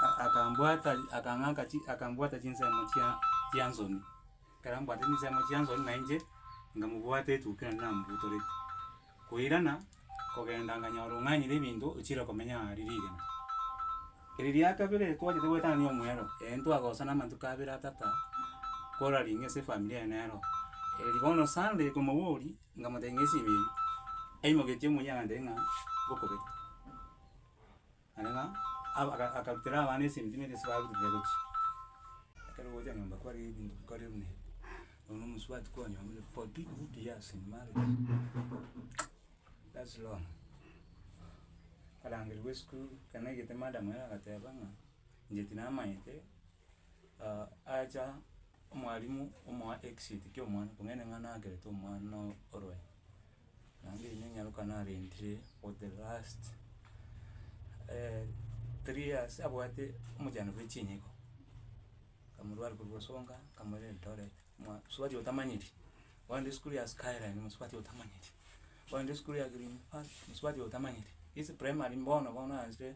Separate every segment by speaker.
Speaker 1: a- akambwata akang'aka chi akambwata chinsemo chia chia nsoni. Ekero ambwate chinsemo chia nsoni na inche, nkamobwata etukia nonye nambutorete. Koirana, kogenda nkanyora ong'anyire ebinto ochire komenya aria rigena. Eri ria kabere twachete goetanania omwero, ee ntwagosana amatuko abere atata, koraringe ase efamiri eye nero. Eri bono Sunday komoboria, nkamotebia ng'a esimi eyio, aimoketie omoyia agantebia ng'a, bokobeka. Naende ng'a aba aka akarutera abana esentime eria ase baruire gochia. Ekero ogocha nyomba kware ebinto bikore buna ebi, nonya omosubati kwanyomire forty good years in marriage, that's long. Akarangerigwa esukuru, ekero naigete madam ere agateba ng'a inche tinamanyete acha omwarimu omoa exit kia omwana, kong'aini ng'a nakerete omwana orwae. Naende inche nyaroka narentire for the last three years abwate omochando bwe chinyiko, nkamorwari korwa osonga, nkamoira eldoret, mosubati otamanyeti, ogende esukuru ya skyline mosubati otamanyeti, ogende esukuru ya green park mosubati otamanyeti, ase primary mbono bono arentire.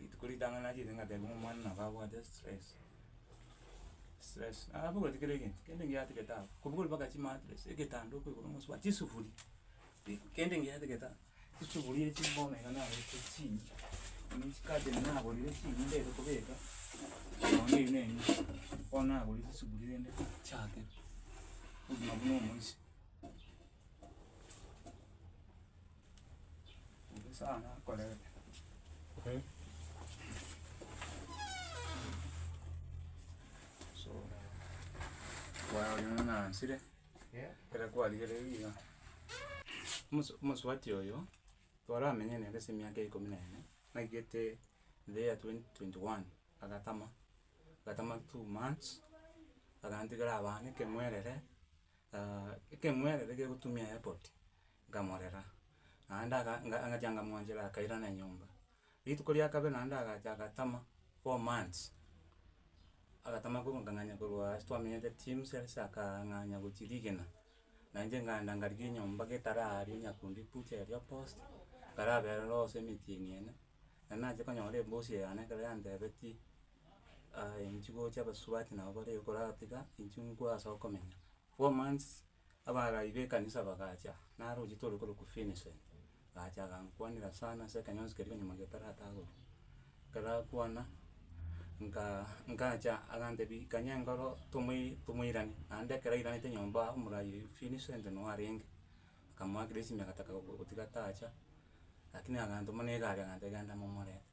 Speaker 1: rituko ritang'ani nachete ngateba ng'a omwana nabo abwate stress, stress nabogoreti kera egento, kende ngiatigete ago, kobugori mpaka chimatress, egetanda oko igoro mosubati, chisufuri, eh, kende ngiatigete ago, chisufuri echi bono iga nagorete chiiyie, ime chicurtain nagorire chiiyie ndete kobeka, nonya eyio na enyia, bono nagorire chisufuri rende nchake obogima buna omoisia. Omosu omosubati oyo, twaramenye nere ase emiaka ikomi na ene, naigete the year twenty twenty one, agatama, agatama two months, agantigera abana ekeng'werere ekeng'werere gegotumia airport. nkamorera, naende aka nga- ngachia nkamoanchera akairana enyomba. Rituko ria kabere naende agacha agatama four months, agatama korwa nkang'anya korwa ase twamenyete Tims ase akang'anya gochia rigena, na inche nkagenda nkarigia enyomba getara aria nyakundi bucha eria post, nkarabera ororo gose emetienyi ene, na nacha konyora ebosi eye yane ekero yantebetie inchi gocha abasubati nabo bare iga koratiga inche nkwe ase okomenya. four months, abaaraai b'ekanisa bagacha, naro ochieta ore korokwa Vincent, agacha agankwanera sana ase ekenyonsi keria konyuma gie taratagorwa. Ekero akwana, nka nkacha agantebia ikanya enkoro tomoi tomoirane, naende ekero airanete nyomba aa omoraai oyio Vincent noo arenge, akamoakera esimi agataka gotiga tacha, rakini agantoma na egari agantebia genda momorete.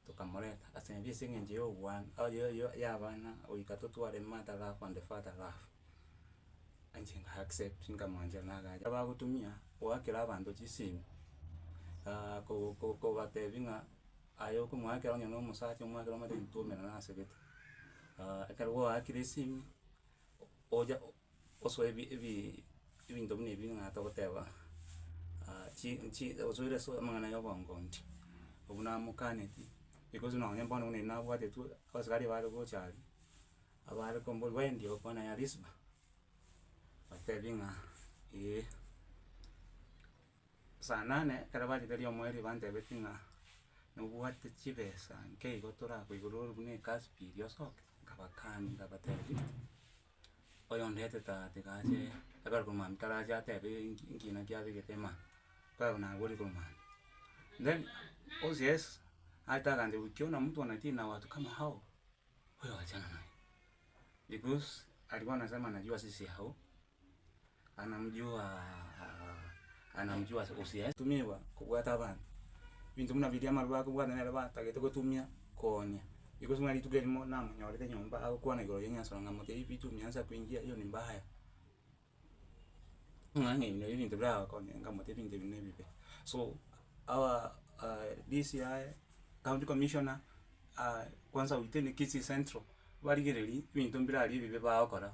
Speaker 1: tokamoreta ase ebi ase eng'encho ya oboan oye oye yabana goika totware matara ako on the fatal love, inche nka accept nkamwancha na agacha abagotumia goakera abanto chisimu ko- ko- kobatebia ng'a aye okomoakera onye na omosacha omoakera omotebie tuomenana asegete ekero gwaakire esimu ocha. gosoa ebi ebi ebinto buna ebi ng'a togoteba chi chi osoire ase amang'ana ya obongondi, obwo namokaneti, because nonye bono buna ebi nabwatetwe, abasaria bare gocha aria, abare komborwa wendi okwana ya risiba, batebi ng'a eeh. Saa nane ekero bachete riomwe erio bantebeti ng'a nobwate chibesa nkeigo torakoigorere buna ekasi pi iri osoke, nkabakani nkabatebi. Oyo ondete taa tiga ache ekero korwa mambia tarache atebe enki nkina kiabegete ime aa, mpaka naborie korwa mambia. Then osie Yeso, arete agancha goikia buna mtu anatii na watu kama hao, wewe wachana naye, because aria bono ase amanyabiu ase ase yao. Tumigwa kobwata abanto, ebinto buna biria amarwa akobwate nere batagete gotumia koonia, iko ase buna rituko erimo namonyorete nyomba agokwana igoro ya enyansoro ng'a motiye pi chumia nsa kuinchia hiyo ni mbaya, ng'a ng'a ebi nabio ebinto biragokonye ng'a motiye ebinto ebi nebibe. So our DCI, county commissioner, kwanza within kisii central barigereiri ebinto mbirari ebibe bagokora.